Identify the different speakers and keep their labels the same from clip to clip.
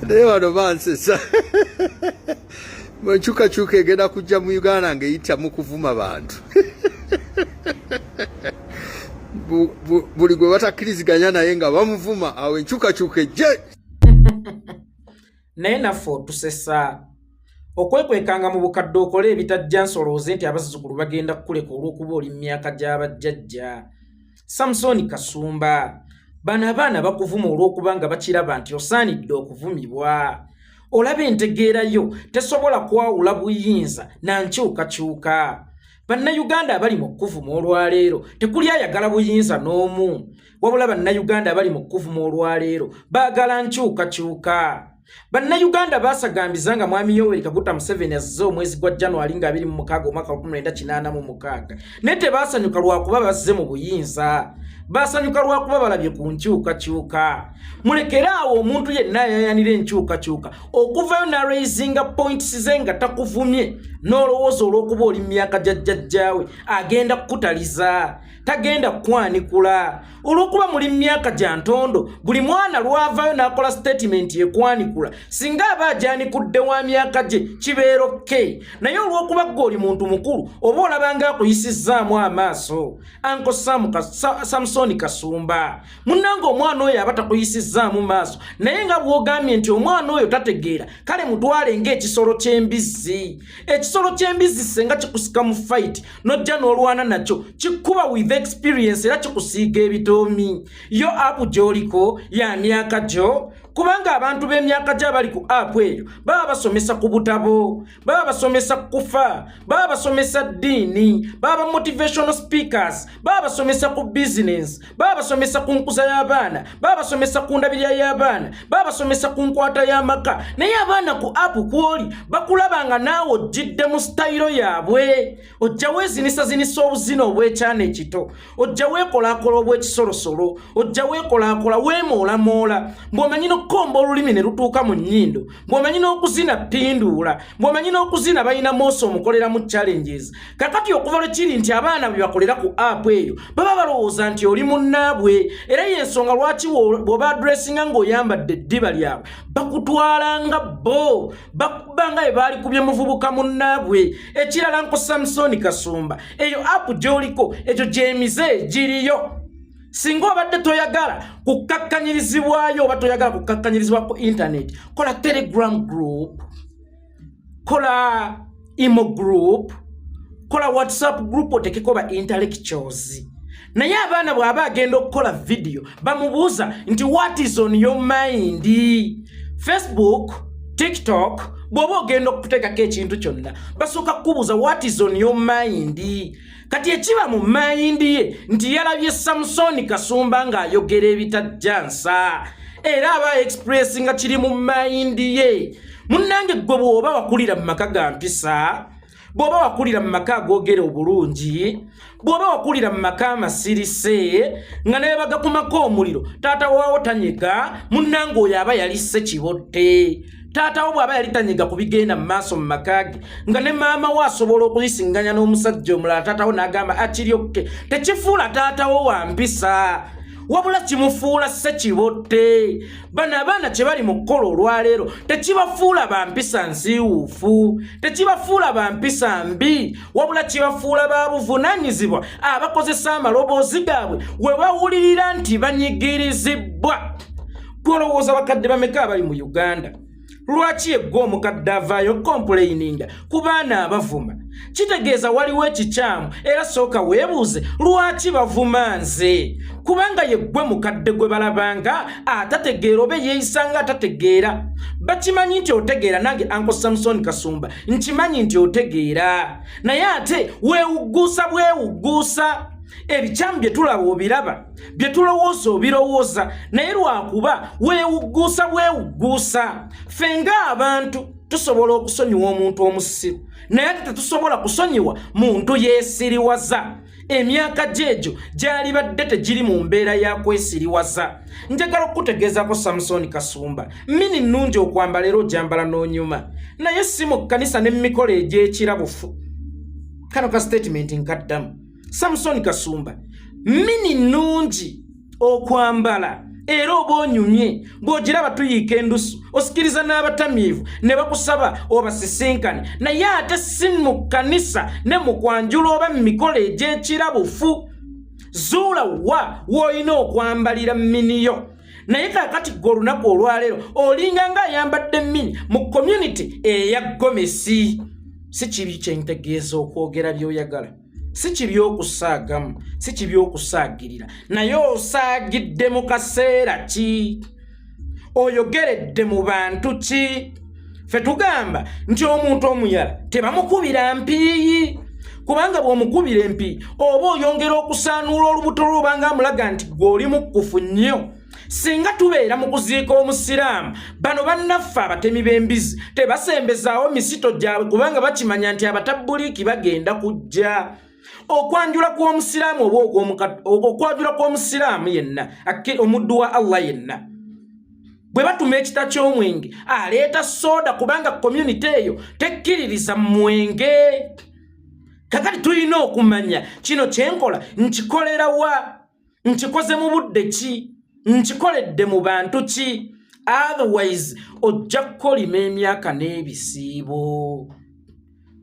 Speaker 1: naye bano bansesa enkyukakyuka egenda kujja mu uganda ngaeyita mu kuvuma bantu buli gwe batakkiriziganya naye nga bamuvuma awo enkyukakyuka ejje
Speaker 2: naye naffe otusesa okwekwekanga mu bukadde okole ebitajja nsolooze nti abazzukulu bagenda kukuleka olw'okuba oli mu myaka gy'abajjajja samusooni kasumba bano abaana bakuvuma olw'okuba nga bakiraba nti osaanidde okuvumibwa olaba entegeera yo tesobola kwawula buyinza na nkyukakyuka bannayuganda abali mu kukuvuma olwaleero tekuli ayagala buyinza n'omu wabula bannayuganda abali mu kukuvuma olwaleero baagala nkyukakyuka Bannayuganda baasagambiza nga Mwami Yoweri Kaguta Museveni azze omwezi gwa January nga abiri mu mukaaga omwaka lukumi lwenda kinaana mu mukaaga naye tebaasanyuka lwakuba bazze mu buyinza baasanyuka lwakuba balabye ku nkyukakyuka mulekere awo omuntu yenna ayayanira enkyukakyuka okuvayo naraisinga points ze nga takuvumye n'olowooza olw'okuba oli mu myaka gya jjajjaawe agenda kukutaliza tagenda kukwanikula olwokuba muli myaka gya ntondo buli mwana lwavaayo n'akola sitatimenti ekwanikula singa aba agyanikudde wa myaka gye kibeera okke naye olwokuba gwe oli muntu mukulu oba olabanga akuyisizzaamu amaaso anko samusoni kasumba munnanga omwana oyo aba takuyisizzaamu maaso naye nga bwogambye nti omwana oyo tategeera kale mutwale ng'ekisolo ky'embizzi ekisolo ky'embizzi senga kikusika mu fayiti nojja n'olwana nakyo kikuba with experience era kikusiiga ebitoomi yo apu gy'oliko ya myaka gyo kubanga abantu b'emyaka gyo abali ku apu eyo baba basomesa ku butabo baba basomesa ku kufa baba basomesa ddiini baba motivational speakers baba basomesa ku bizinensi babasomesa ku nkuza y'abaana babasomesa ku ndabirira y'abaana babasomesa ku nkwata y'amaka naye abaana ku apu kwoli bakulaba nga naawe ojjidde mu sitayiro yaabwe ojja weezinisa zinisa obuzina obw'ekyana ekito ojja weekolaakola obw'ekisolosolo ojja weekolaakola weemoolamola ng'omanyi n'okukomba olulimi ne lutuuka mu nnyindo bwomanyi n'okuzina pinduula bwomanyi n'okuzina balina moosi omukoleramu challenges kakati okuva lwe kiri nti abaana bwe bakolera ku app eyo baba balowooza nti oli munnaabwe era y'ensonga lwaki bw'oba adressinga ng'oyambadde eddiba lyabwe bakutwala nga bo bakuba nga bwe baali kubye muvubuka munnaabwe ekirala nko samusoni kasumba eyo app gy'oliko ekyo gy'emize giriyo singa obadde toyagala kukkakkanyirizibwayo oba toyagala kukkakkanyirizibwa ku internet kola telegram group kola imo group kola whatsapp group otekeko ba intellectuals naye abaana bw'aba agenda okukola vidiyo bamubuuza nti what is on your mind facebook tiktok bw'oba ogenda okutekako ekintu kyonna basooka kukubuuza what is on your mind kati ekiba mu mayindi ye nti yalabye samusoni kasumba ng'ayogera ebitajja nsa era aba express nga kiri mu mayindi ye munnange ggwe bw'oba wakulira mu maka ga mpisa bw'oba wakulira mu maka agogera obulungi bw'oba wakulira mu maka amasirise nga naye bagakumako omuliro taata waawo tanyega munnange oyo aba yalisse kibotte taata wo bw'aba yali tanyiga ku bigenda mu maaso mu maka ge nga ne maama wo asobola okuzisinganya n'omusajja omulala taata wo n'agamba akiryokke tekifuula taata wo wa mpisa wabula kimufuula sekibotte bano abaana kye bali mu kukola olwaleero tekibafuula ba mpisa nziwuufu tekibafuula ba mpisa mbi wabula kibafuula ba buvunaanyizibwa abakozesa amaloboozi gaabwe we bawulirira nti banyigirizibwa golowooza bakadde bameka abali mu uganda lwaki eggwa omukadde avaayo kompulayininga ku baana abavuma kitegeeza waliwo ekikyamu era sooka weebuuze lwaki bavuma nze kubanga yeggwe mukadde gwe balabanga atategeera oba eyeeyisanga atategeera bakimanyi nti otegeera nange anko samusoni kasumba nkimanyi nti otegeera naye ate weewugguusa bwewugguusa ebikyamu bye tulaba obiraba bye tulowooza obirowooza naye lwakuba weewugguusa bwewugguusa ffe ng'abantu tusobola okusonyiwa omuntu omusiru naye ate tetusobola kusonyiwa muntu yeesiriwaza emyaka gyegyo gyalibadde tegiri mu mbeera ya kwesiriwaza njagala okukutegeezako samusooni kasumba mini nnungi okwambala era ogyambala n'onyuma naye si mu kkanisa ne mu mikolo egy'ekirabufu kano ka sitatimenti nkaddamu samusoni kasumba mini nnungi okwambala era oba onyumye ng'ogiraba tuyiika endusu osikiriza n'abatamiivu ne bakusaba obasisinkane naye ate si mu kkanisa ne mu kwanjula oba mu mikolo egy'ekirabufu zuula wa w'olina okwambalira miniyo naye kakati gwe olunaku olwaleero olinga nga ayambadde mini mu community eya gomesi si kibi kyentegeeza okwogera by'oyagala si kibi okusaagamu si kibi okusaagirira naye osaagidde mu kaseera ki oyogeredde mu bantu ki fe tugamba nti omuntu omuyala tebamukubira mpiiyi kubanga bw'omukubira empi oba oyongera okusaanuula olubuto lwobanga amulaga nti gweoli mukkufu nnyo singa tubeera mu kuziika omusiraamu bano bannaffe abatemi b'embizi tebasembezaawo misito gyabwe kubanga bakimanya nti abatabbuliiki bagenda kujja okwanjula kw'omusiraamu oba okwanjula kw'omusiraamu yenna omuddu wa allah yenna bwe batuma ekita ky'omwenge aleeta sooda kubanga komyunite eyo tekkiririza mwenge kakati tulina okumanya kino kyenkola nkikolerawa nkikoze mu budde ki nkikoledde mu bantu ki otherwise ojja kukolima emyaka n'ebisiibo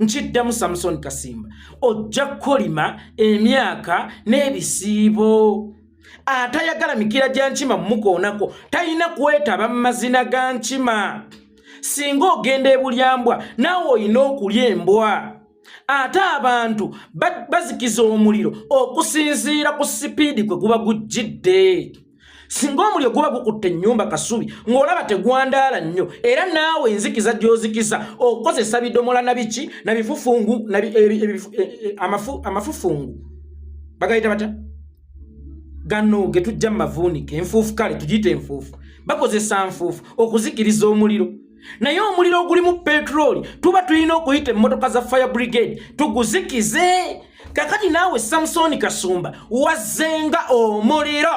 Speaker 2: nkiddamu samusoni kasimba ojja kukolima emyaka n'ebisiibo atayagala mikira gya nkima mukoonako talina kwetaba mu mazina ga nkima singa ogenda ebulyambwa naawe olina okulya embwa ate abantu bazikiza omuliro okusinziira ku sipiidi kwe guba gujjidde singa omuliro guba gukutte ennyumba kasubi ng'olaba tegwandaala nnyo era naawe enzikiza gy'ozikiza okukozesa bidomola na biki na bifufungu e- e- e- amafufungu bagayita batya gano ge tujja mu mavuunike enfuufu kale tugiyita enfuufu bakozesa nfuufu okuzikiriza omuliro naye omuliro ogulimu petulooli tuba tulina okuyita emmotoka za fire brigade tuguzikize kakati naawe samusoni kasumba wazzenga omuliro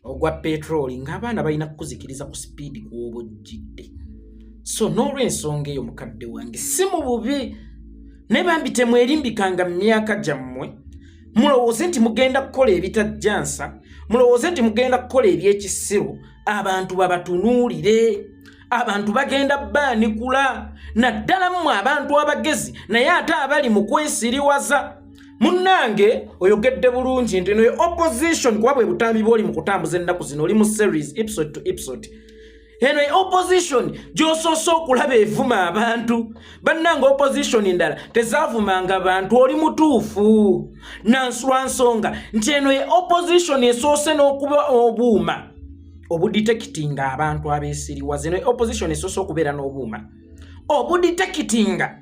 Speaker 2: ogwa petulooli ng'abaana balina kukuzikiriza ku sipiidi kuoba ojjidde so n'olwensonga eyo mukadde wange si mu bubi naye bambi temwerimbikanga mu myaka gyammwe mulowooze nti mugenda kukola ebitajjansa mulowooze nti mugenda kukola ebyekisiru abantu babatunuulire abantu bagenda baanikula naddala mmwe abantu abagezi naye ate abali mu kwesiriwaza munnange oyogedde bulungi nti noyo opposition kuba bwe butambi bwoli mu kutambuza ennaku zino oli mu series episode to episode eno e opposition gyosoose okulaba evuma abantu bannanga opposition ndala tezavumanga bantu oli mutuufu nansula nsonga nti eno e opposition esoose n'okuba obuuma obudetekitinga abantu abesiriwa zino e opposition esoose okubeera n'obuuma obudetekitinga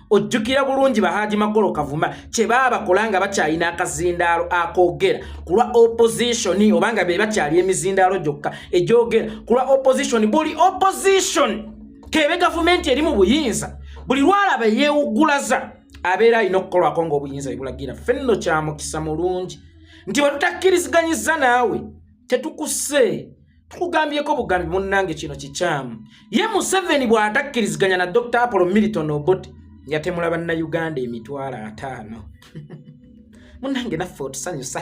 Speaker 2: ojjukira bulungi bahaaji magolo kavuma kye baabakola nga bakyalina akazindaalo akoogera ku lwa opozitioni oba nga be bakyali emizindaalo gyokka egyogera ku lwa opozitioni buli opozitioni keebe gavumenti eri mu buyinza buli lwalaba yeewugulaza abeera alina okukolwako ngaobuyinza bebulagira ffe nno kyamukisa mulungi nti bwe tutakkiriziganyizza naawe tetukuse tukugambyeko bugambi munnange kino kikyamu ye museveni bw'atakkiriziganya na dr apollo milton obot yatemula bannayuganda emitwalo ataano munnange naffe otusanyusa